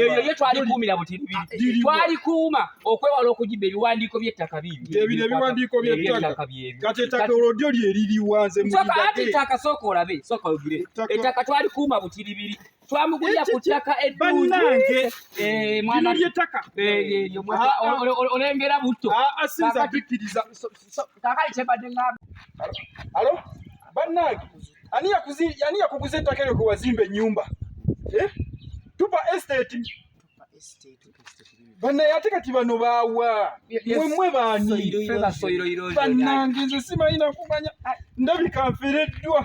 ebyo ye twalikuumira butiribiri twalikuuma okwewala okugibba ebiwandiiko by'ettaka bibibiwandiikoby'ettaka kati ettaka olwo lyo lye liriwanze ati ettaka sooka olabe sooka ogire ettaka twalikuuma butiribiri twamugulira ku ttaka eddungi eh, mwana ly'ettaka eh, eh, olengera butto ah, ah, kakali kyebadde ngamba alo bannange ani yakuguza ettaka eryo gwe wazimba ennyumba eh? tupa estate banaye ate kati bano baawa mwemwe baanibanange nze simanyi nakumanya ndabika nfereddwa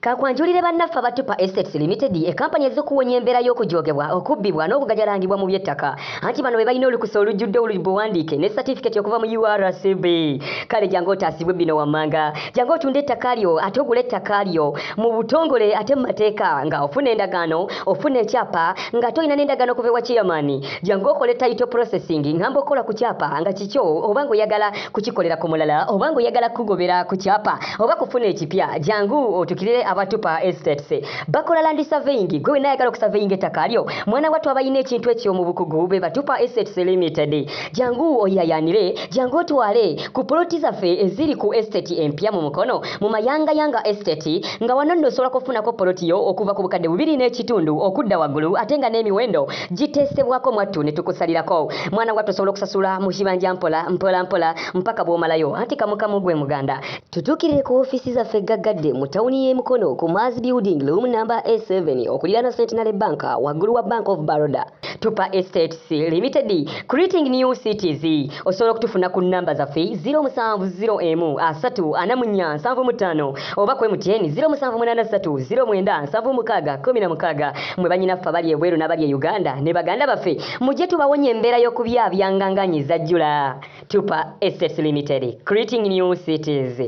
Kakwanjulire bannaffe aba Tupa Estates Limited e kampani ezze okuwonya embeera y'okujoogebwa, okubbibwa n'okugajalangibwa mu by'ettaka. Anti bano be balina olukusa olujjudde olubuwandiike ne satifikeeti okuva mu URCB. Kale jangu otaasibwe bino wammanga. Jangu otunde ettaka lyo ate ogule ettaka lyo mu butongole ate mu mateeka nga ofuna endagaano, ofuna ekyapa nga ate olina n'endagaano okuva ewa chairman. Jangu okole title processing ngamba okukola ku kyapa nga kikyo oba ng'oyagala kukikolera ku mulala oba ng'oyagala kukugobera ku kyapa oba kufuna ekipya jangu otukirire abatupa estates bakola landi saveyingi gwe wena ayagala okusaveyinga ettaka lyo mwana wattu abalina ekintu ekyo mu bukugu be batupa estates limited jangu oyayanire jangu otwale ku poloti zaffe eziri ku estate empya mu mukono mu mayangayanga estate nga wano nno osobola kufunako poloti yo okuva ku bukadde bubiri n'ekitundu okudda waggulu ate nga n'emiwendo giteesebwako mwattu ne tukusalirako mwana wattu osobola okusasula mu kibanja mpola mpola mpola mpaka bw'omalayo anti kamukamu gwe muganda tutuukirire ku ofiisi zaffe gaggadde mu tawuni y'e mukono ku maazi building loom namba a7 okuliraana centenary bank waggulu wa bank of baroda tupa estates limited creating new cities osobola okutufuna ku namba zaffe 0701 3 4 7 5 oba ku MTN 0783097616 mwe banyinaffe abali ebweru n'abali e Uganda ne baganda baffe mujje tubawonye embeera y'okubyabyanga nga nyi zajjula. Tupa Estates Limited, creating new cities.